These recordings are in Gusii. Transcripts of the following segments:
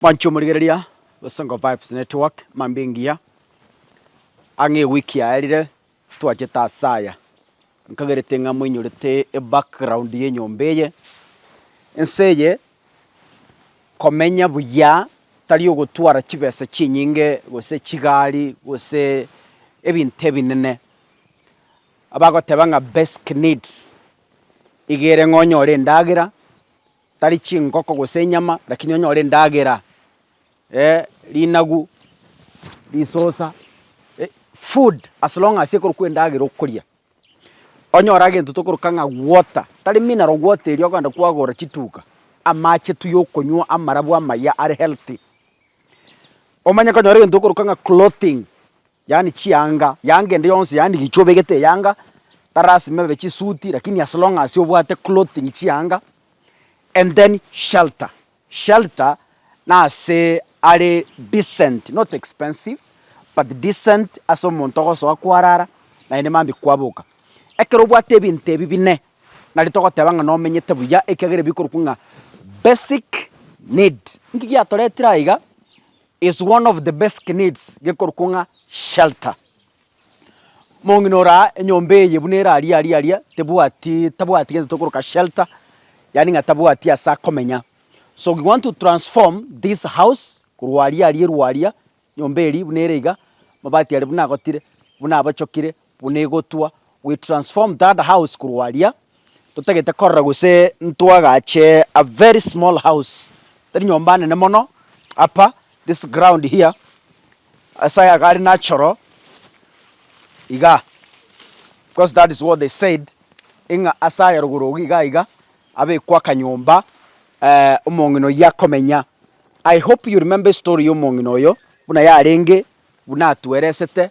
Manche omorigereria Songo Vibes Network mambia engiya ang'e ewiki yaerire twachete ase aya nkagerete ng'a moinyorete ebackground ya enyomba eye. Ense eye komenya buya tari ogotwara chibesa chinyinge gose chigari gose ebinto ebinene. Abagoteba ng'a basic needs iga ere ng'a onyore endagera, tari chingoko gose enyama, lakini onyore endagera, eh, rinagu, risosa, eh, food, as long as ekorokwa endagera okoria. Onyora gento tokoroka ng'a water, tari mineral water eria okogenda kwagora chituka, amache tu yokonywa amarabwo amaya are healthy. Omanye konyora egento tokoroka ng'a clothing, Yaani chianga, yanga ende yonsi yaani gichwa obegete eyanga, tarasima ebe chisuti lakini as long as obwate clothing chianga and then shelter, shelter nase are decent not expensive but decent ase omonto ogosoa kwarara naende mambia kwaboka. Ekero obwate ebinto ebi bine nari togoteba ng'a nomenyete buya ekiagera ebikorokwa ng'a basic need. Nki giatoretire aiga? Is one of the basic needs gekorokwo ng'a shelter. Mong'ina oraa enyomba eye buna ere aria aria aria tebwati tabwati gento tokoroka shelter, yaani ng'a tabwati ase akomenya. So we want to transform this house korwa aria aria erwa aria nyomba eria buna ere iga, mabati aria buna agotire, buna abochokire, Buna egotwa, we transform that house korwa aria, totagete korora gose ntwagache a very small house, tari nyomba nene mono, apa, this ground here, ase aya gari nachoro iga, because that is what they said, ing'a ase aya rogoro ogo iga iga, abekwe akanyomba omong'ina oyio akomenya. I hope you remember estory ya omong'ina oyo, buna yarenge, buna atweresete,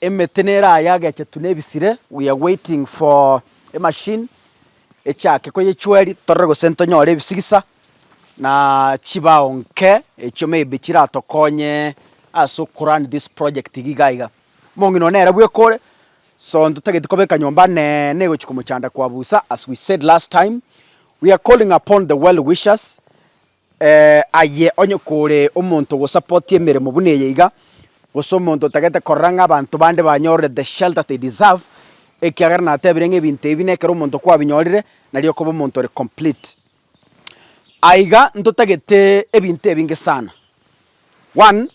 Emete nere aya agechetu nebisire, we are waiting for e machine echake koyechweri torore gose ntonyore ebisigisa na chibao nke echio maybe chiratokonye ase oko run this project iga iga iga. Omong'ina one nere bweka ore, so ntotageti kobeka nyomba neene egochi komochanda kwabusa as we said last time, we are calling upon the well wishers Aye onye kore omonto ogosapotia emeremo buna eye iga, gose omonto otagete korora ng'a abanto bande banyorire the shelter they deserve, ekiagera natebire ng'a ebinto ebi na ekero omonto kwabinyorire, nari okoba omonto ore complete. Aiga ntotagete ebinto ebinge sana, one,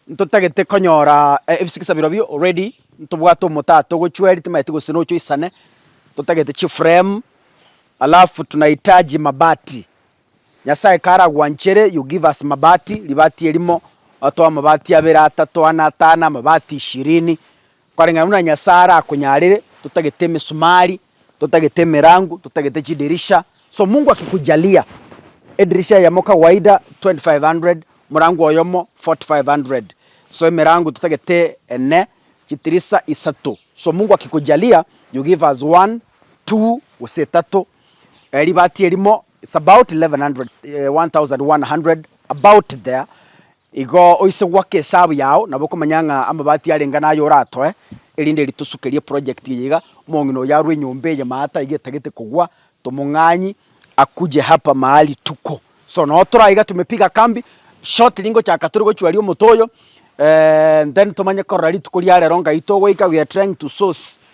ntotagete konyora ebisikisa birobio already ntobwate omotata ogochweri timaeti gose nocha oisane, ntotagete chiframe, alafu tunahitaji mabati, Nyasae karagwanchere you give us mabati, ribati erimo, otoe amabati abere, atato, ane, atano, amabati ishirini, koreng'ana buna Nyasae arakonyarere, totagete emesumari, totagete emerango, totagete chidirisha, so Mungu akikujalia edirisha eyemo kawaida 2500, omorango oyomo 4500, so emerango totagete ene, chitirisa isato, so Mungu akikujalia you give us one, two, gose etato, ribati erimo, It's about 1100 about there igo oise goaka esabu yao nabo okomanya ng'a amabati arenge naye oratoe erinde ritosukerie eproject eye iga. Omong'ina oyo arwe enyomba eye maate aiga etagete kogwa tomong'anyi akuje hapa mahali tuko so noo tore aiga tumepiga kambi shortly ngochaka tore gochwaria omote oyo then tomanye korora rituko ria rero ngai togoika we are trying to source